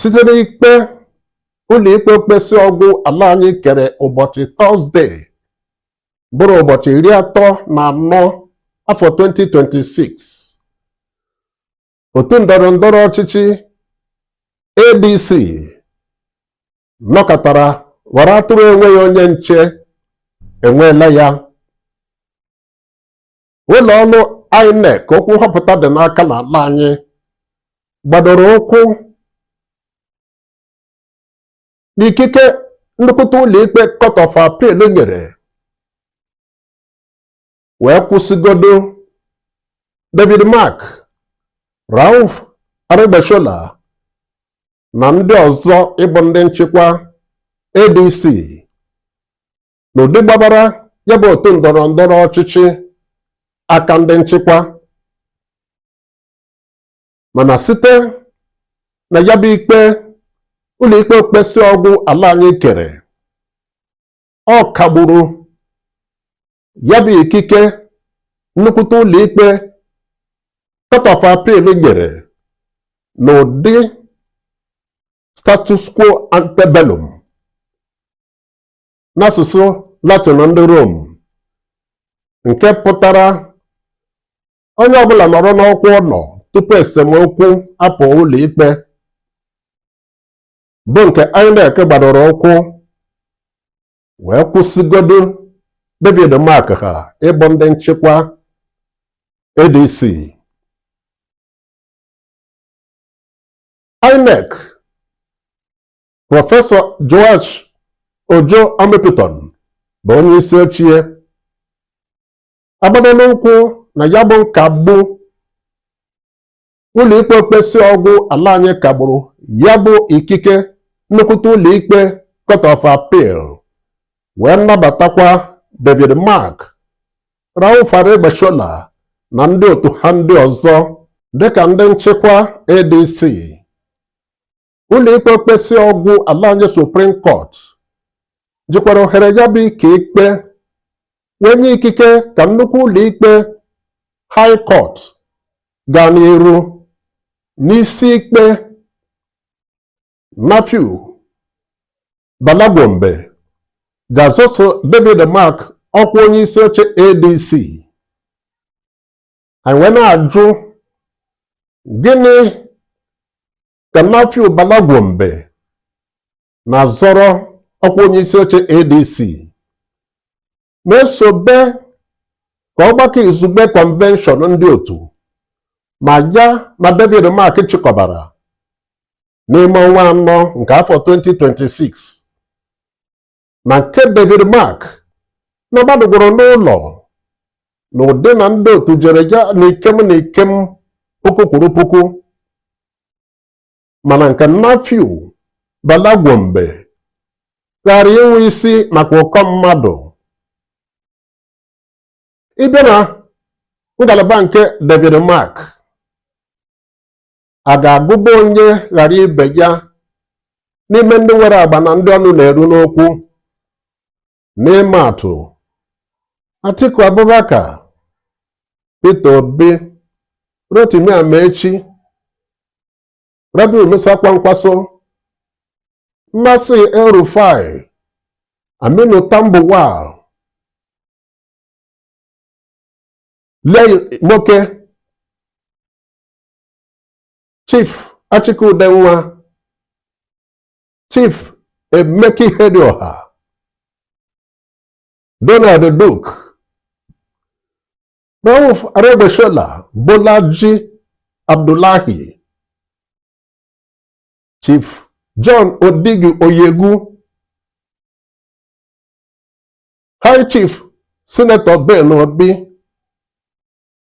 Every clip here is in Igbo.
site n'ikpe ụlọikpe okpesị ọgwụ ala anyị kere ụbọchị tọzdee bụrụ ụbọchị iri atọ ọnwa anọ afọ 2026 otu ndọrọ ndọrọ ọchịchị ADC nọkatara ghọrọ atụrụ enweghị onye nche enweela ya ụlọ ọrụ INEC okwu nhọpụta dị n'aka n'ala anyị gbadoro ụkwụ n'ikike nnukwute ụlọikpe Court of Appeal nyere wee kwụsịgodo David Mark Rauf Aregbesola na ndị ọzọ ịbụ ndị nchịkwa ADC n'ụdị gbabara ya bụ otu ndọrọ ndọrọ ọchịchị aka ndị nchịkwa mana site na ya bụ ikpe ụlọikpe okpesị ọgwụ ala anyị kere ọ kagburu ya bụ ikike nnukwute ụlọikpe court of appeal nyere n'ụdị status quo antebellum n'asụsụ Latin ndị Rom nke pụtara onye ọbụla nọrọ n'ọkwa ọ nọ tupu esemokwu apụọ ụlọikpe bụ nke INEC gbadoro ụkwụ wee kwụsịgodu David Mark ha ịbụ ndị nchịkwa ADC INEC Prọfesọ Joash Ojo Amupitan bụ onye isi oche agbadola ụkwụ na ya bụ nkagbu ụlọikpe okpesị ọgwụ ala anyị kagburu ya bụ ikike nnukwute ụlọikpe Court of Appeal wee nabatakwa David Mark Rauf Aregbesola na ndị otu ha ndị ọzọ dịka ndị nchịkwa ADC ụlọikpe okpesị ọgwụ ala anyị Supreme Court jikwara ohere ya bụ ike ikpe wee nye ikike ka nnukwu ụlọikpe High Court gaa n'iru n'isi ikpe Nafiu Bala Gombe ji azọso David Mark ọkwa onye isi oche ADC anyị wee na-ajụ gịnị ka Nafiu Bala Gombe na-azọrọ ọkwa onye isi oche ADC na-esobe ka ọgbakọ izugbe kọnvenshọn ndị otu ma ya na David Mark chịkọbara n'ime ọnwa anọ nke afọ 2026 na nke David Mark na gbadogworo n'ụlọ na ụdị na ndị otu jere ya na ikem na ikem puku kwuru puku mana nke Nafiu Bala Gombe ghara inwe isi maka ụkọ mmadụ ebe na ngalaba nke David Mark a ga-agụba onye ghara ibe ya n'ime ndị nwere agba na ndị ọnụ na-eru n'okwu n'ịma atụ Atiku Abubakar Peter Obi Rotimi Amaechi Rabiu Musa Kwankwaso Nasir El-Rufai Aminu Tambuwal Liyel Imoke Chief Achike Udenwa Chief Emeka Ihedioha Donald Duke Rauf Aregbesola Bolaji Abdullahi Chief John Odigi Oyegu High Chief Senator Ben Obi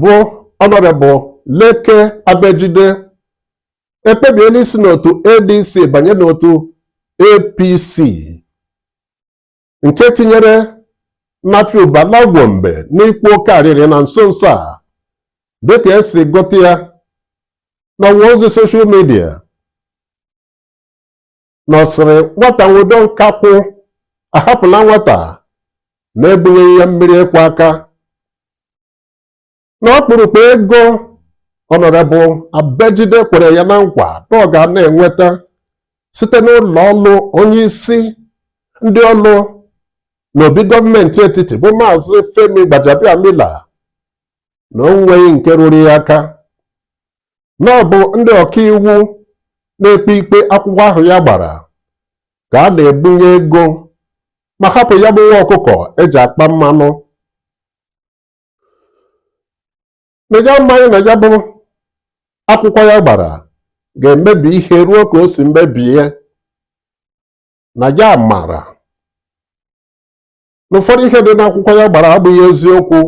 bụ ọnọrebụ Leke Abejide ekpebiela isi n'otu ADC banye n'otu APC nke tinyere Nafiu Bala Gombe n'ịkwa oke arịrị na nso nso a dịka e si gụta ya n'ọwa ozi soshal midia na ọ sịrị nwata nwụdo nkakwụ ahapụla nwata na ebunyeghị ya mmiri ịkwọ aka na ọkpụrụkpụ ego ọnọrebụ abejide kwere ya na nkwa na ọ ga na-enweta site n'ụlọ ọrụ onye isi ndị ọrụ n'obi gọọmenti etiti bụ maazị Femi Gbajabiamila na o nweghị nke ruru ya aka na ọ bụ ndị ọkaiwu na-ekpe ikpe akwụkwọ ahụ ya gbara ka a na-ebunye ego ma hapụ ya bụ nwa ọkụkọ e ji akpa mmanụ na ya amaghị na ya bụ akwụkwọ ya gbara ga-emebi ihe ruo ka o si mebie na ya mara na ụfọdụ ihe dị n'akwụkwọ ya gbara abụghị eziokwu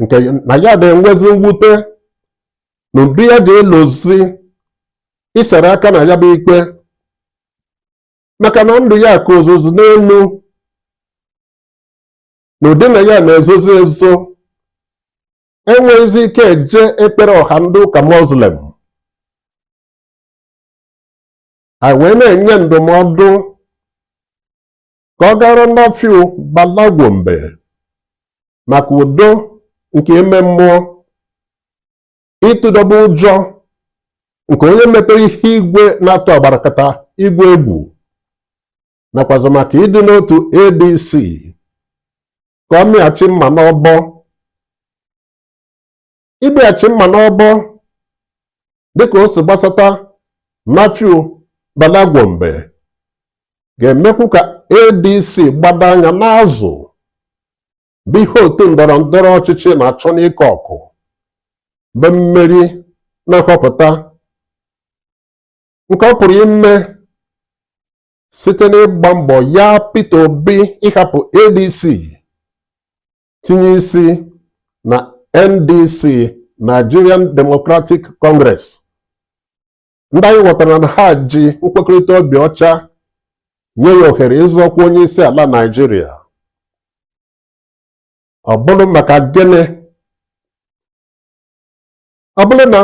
nke na ya na-enwezi mwute na ụdị ya ji elozi isere aka na ya bụ ikpe maka na ndụ ya kozizi n'elu na ụdị na ya na-ezozi ezo enweghịzi ike eje ekpere ọha ndị ụka muslim anyị wee na-enye ndụmọdụ ka ọ gara Nafiu Bala Gombe maka udo nke ime mmụọ ịtụdọba ụjọ nke onye metere ihe igwe na-atụ agbarakata igwe egwu nakwazi maka ịdị n'otu ADC ka ọ mịghachi mma n'ọbọ ịmịghachi mma n'ọbọ dịka o si gbasata Nafiu Bala Gombe ga-emekwu ka ADC gbado anya n'azụ bụ ihe otu ndọrọ ndọrọ ọchịchị na-achọ n'ike ọkụ bụ mmeri na nhọpụta nke ọ pụrụ ime site n'ịgba mbọ ya Peter Obi ịhapụ ADC tinye isi na NDC Nigerian Democratic Congress ndị anyị ghọtara na ha ji nkwekọrịta obi ọcha nye ya ohere ịzọ ọkwa onye isi ala Naijiria ọ bụrụ maka gịnị ọ bụrụ na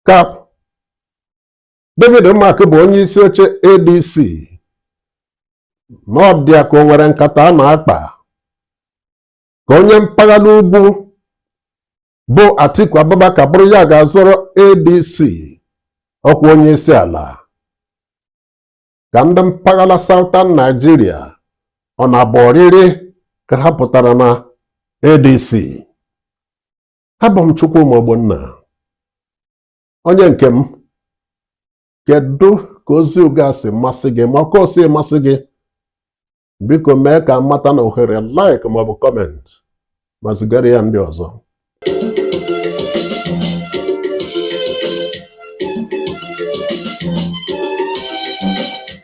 ka David Mark bụ onye isi oche ADC na ọ dịa ka o nwere nkata a na-akpa ka onye mpaghara ugwu bụ Atiku Abubakar bụrụ ya ga-azọrọ ADC ọkwa onye isi ala ka ndị mpaghara Southern Nigeria ọ na-abụ ọrịrị ka ha pụtara na ADC abụ m Chukwuma Ogbonna onye nke m kedu ka ozi nke a si masị gị ma otu o si masị gị biko mee ka a mata na ohere like maọbụ comment ma zigara ya ndị ọzọ